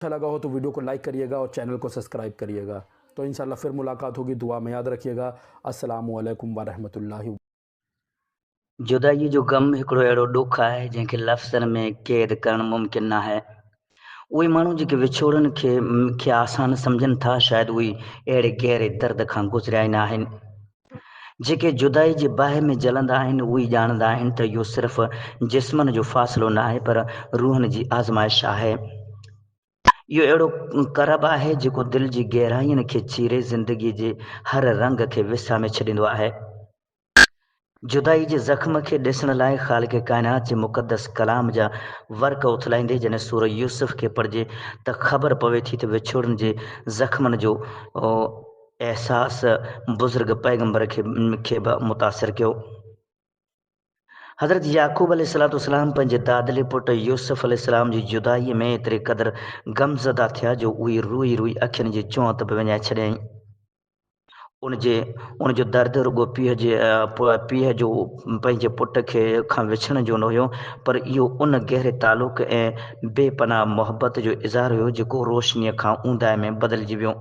اچھا لگا ھو تو ويڊيو کو لائيڪ ڪريي گا اور چينل کو سسڪرائيب ڪريي گا تو انشاء الله فر ملاقات ھوگي دعا مي ياد رکيي گا السلام عليکم ورحمت الله جدائيء جو غم هڪڙو اهڙو ڏک آهي جنهن کي لفظن ۾ قيد ڪرڻ ممڪن ناهي. اهي ماڻهو جيڪي وڇوڙن کي کي آسان سمجهن ٿا شايد اهي اهڙي گهري درد کان گذريا ئي ناهن. جيڪي جدائي جي باهه ۾ جلندا آهن، اهي ئي ڄاڻندا آهن ته اهو صرف جسمن جو فاصلو نه آهي، پر روحن جي آزمائش آهي. اهو اهڙو ڪرب آهي، جيڪو دل جي گهراين کي چيري، زندگيء جي هر رنگ کي وسامي ڇڏيندو آهي. جدائي جي زخم کي ڏسڻ لاء خالق ڪائنات جي مقدس ڪلام جا ورق اٿلائيندي جڏهن سورة يوسف کي پڙهجي ته خبر پوي ٿي ته وڇوڙن جي زخمن جو احساس بزرگ پيغمبر کي به متاثر ڪيو. حضرت يعقوب عليه السلام پنهنجي دادلي پٽ يوسف عليه السلام جي جدائيء ۾ ايتري قدر غمزده ٿيا جو اهي روئي روئي اکين جي چونئت به وڃائي ڇڏيائين. ان جي ان جو درد رڳو پيء جي پيء جو پنهنجي پٽ کي کان وڇڙڻ جو نه هيو پر اهو ان گهري تعلق ۽ بي پناهه محبت جو اظهار هيو جيڪو روشنيء کان اونداهي ۾ بدلجي ويو.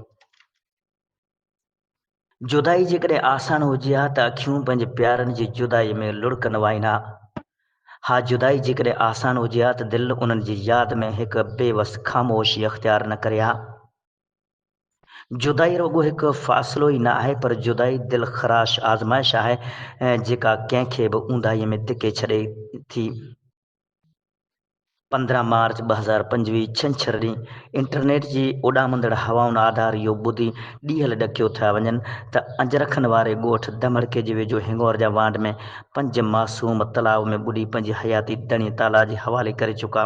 جدائي جيڪڏهن آسان هجي ها ته اکيون پنهنجي پيارن جي جدائي ۾ لڙڪ نه وائين ها. ها جدائي جيڪڏهن آسان هجي ها ته دل انهن جي ياد ۾ هڪ بي وس خاموشي اختيار نه ڪري ها. جدائي رڳو هڪ فاصلو ئي نه آهي پر جدائي دل خراش آزمائش آهي جيڪا ڪنهن کي به اونداهيء ۾ ڌڪي ڇڏي ٿي. پندرهن مارچ ٻه هزار پنجويهه ڇنڇر ڏينهن انٽرنيٽ جي اڏامندڙ هوائن آڌار اهو ٻڌي ڏيهل ڏکيو ٿيا وڃن ته اجرکن واري ڳوٺ دمڙڪي جي ويجهو هنڱور جا وانڊ ۾ پنج معصوم تلاء ۾ ٻڏي پنهنجي حياتي دڻي تالا جي حوالي ڪري چڪا.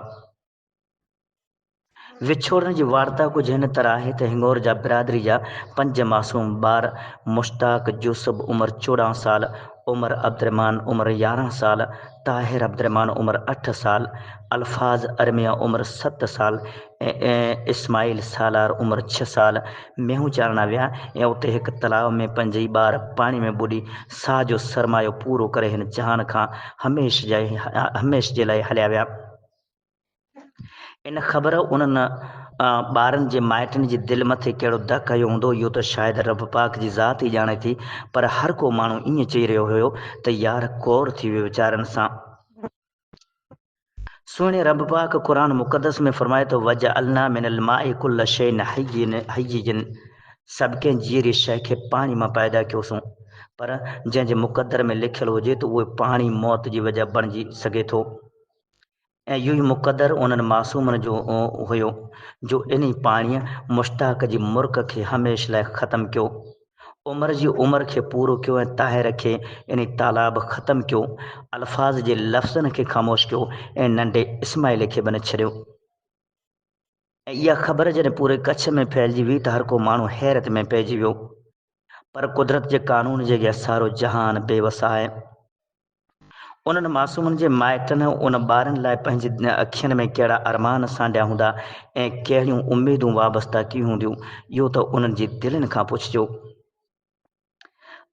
وڇوڙڻ جي وارتا ڪجهه هن طرح آهي ته هڱور جا برادري جا پنج معصوم ٻار مشتاق، يوسف عمر چوڏهن سال، عمر عبدالرحمان عمر يارهن سال، طاهر عبدالرحمان عمر اٺ سال، الفاظ ارميا عمر ست سال ۽ اسماعيل سالار عمر ڇهه سال مينهون چارڻ ويا ۽ اتي هڪ تلاء ۾ پنج ئي ٻار پاڻي ۾ ٻڏي ساهه جو سرمايو پورو ڪري هن جهان کان هميشھ جي لاء هليا ويا. ان خبر انهن ٻارن جي مائٽن جي دل مٿي ڪهڙو دڪ هنيو هوندو اهو ته شايد رب پاڪ جي ذات ئي ڄاڻي ٿي پر هر ڪو ماڻهو ائين چئي رهيو هيو ته يار ڪور ٿي ويو ويچارن سان سهڻي رب پاڪ قرآن مقدس ۾ فرمائي ٿو وجعلنا من الماء كل شيء حي جن سڀ ڪنهن جيئري شيء کي پاڻي مان پيدا ڪيوسون پر جنهن جي مقدر ۾ لکيل هجي ته اهو پاڻي موت جي وجه بڻجي سگهي ٿو ۽ اهو ئي مقدر انهن معصومن جو هيو جو انهي پاڻيء مشتاق جي مرڪ کي هميشھ لاء ختم ڪيو. عمر جي عمر کي پورو ڪيو ۽ طاهر کي انهي تالاب ختم ڪيو. الفاظ جي لفظن کي خاموش ڪيو ۽ ننڍي اسماعيل کي به نه ڇڏيو. ۽ اها خبر جڏهن پوري ڪڇ ۾ ڦهلجي ويئي ته هر ڪو ماڻهو حيرت ۾ پئجي ويو. پر قدرت جي قانون جي اڳيان سارو جهان بي وس آهي. انهن معصومن جي مائٽن ان ٻارن لاء پنهنجي اکين ۾ ڪهڙا ارمان سانڍيا هوندا ۽ ڪهڙيون اميدون وابسته ڪيون هونديون، اهو ته انهن جي دلين کان پڇجو.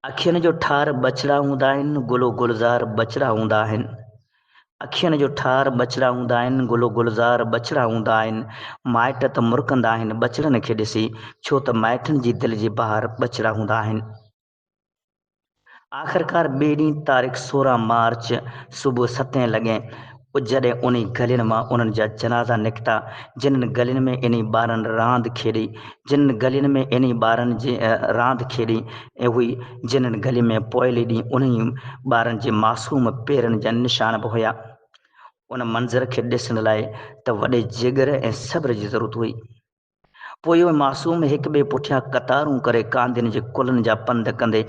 اکين جو ٺار ٻچڙا هوندا آهن، گل و گلزار ٻچڙا هوندا آهن. اکين جو ٺار ٻچڙا هوندا آهن، گل و گلزار ٻچڙا هوندا آهن. مائٽ ته مرڪندا آهن ٻچڙن کي ڏسي، ڇو ته مائٽن جي دل جي بهار ٻچڙا هوندا آهن. آخرڪار ٻئي ڏينهن تاريخ سورهن مارچ صبح ستين لڳي جڏهن انهي گلين مان انهن جا جنازا نڪتا جنن گلين ۾ انهي ٻارن راند کيڏي جنن گلين ۾ انهي ٻارن جي راند کيڏي هئي جنن گلين ۾ پوئلي ڏينهن انهي ٻارن جي معصوم پيرن جا نشان به هيا ان منظر کي ڏسڻ لاء ته وڏي جگر ۽ صبر جي ضرورت هئي. پوء اهي معصوم هڪ ٻئي پٺيان قطارون ڪري ڪانڌين جي ڪلهن جا پنڌ ڪندي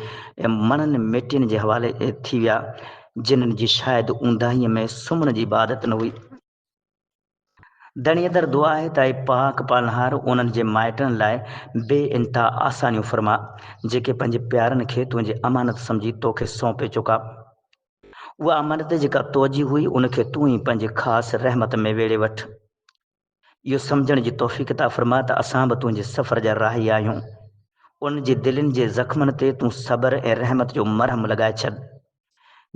مڻن ميٽين جي حوالي ٿي ويا، جنھن جي شايد اونداهيء ۾ سمهڻ جي به عادت نه هئي. ڌڻيء در دعا آهي ته اي پاڪ پالڻهار انهن جي مائٽن لاء بي انتها آسانيون فرماء، جيڪي پنھنجي پيارن کي تنھنجي امانت سمجھي توکي سونپي چڪا. اها امانت جيڪا توجي هئي، ان کي تون ئي پنھنجي خاص رحمت ۾ ويڙهي وٺ. اهو سمجهڻ جي توفيق عطا فرما ته اسان به تنهنجي سفر جا راهي آهيون. انهن جي دلين جي زخمن تي تون صبر ۽ رحمت جو مرهم لڳائي ڇڏ.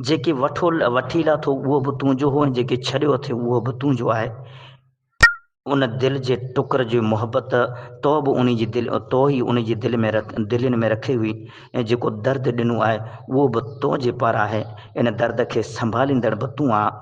جيڪي وٺو وٺي لاٿو اهو به تنهنجو هو ۽ جيڪي ڇڏيو اٿئي اهو به تنهنجو آهي. ان دل جي ٽڪر جي محبت تو به انهي جي دل تو ئي انهي جي دل ۾ دلين ۾ رکي هئي ۽ جيڪو درد ڏنو آهي اهو به تنهنجي پاران آهي. ان درد کي سنڀاليندڙ به تون آهين.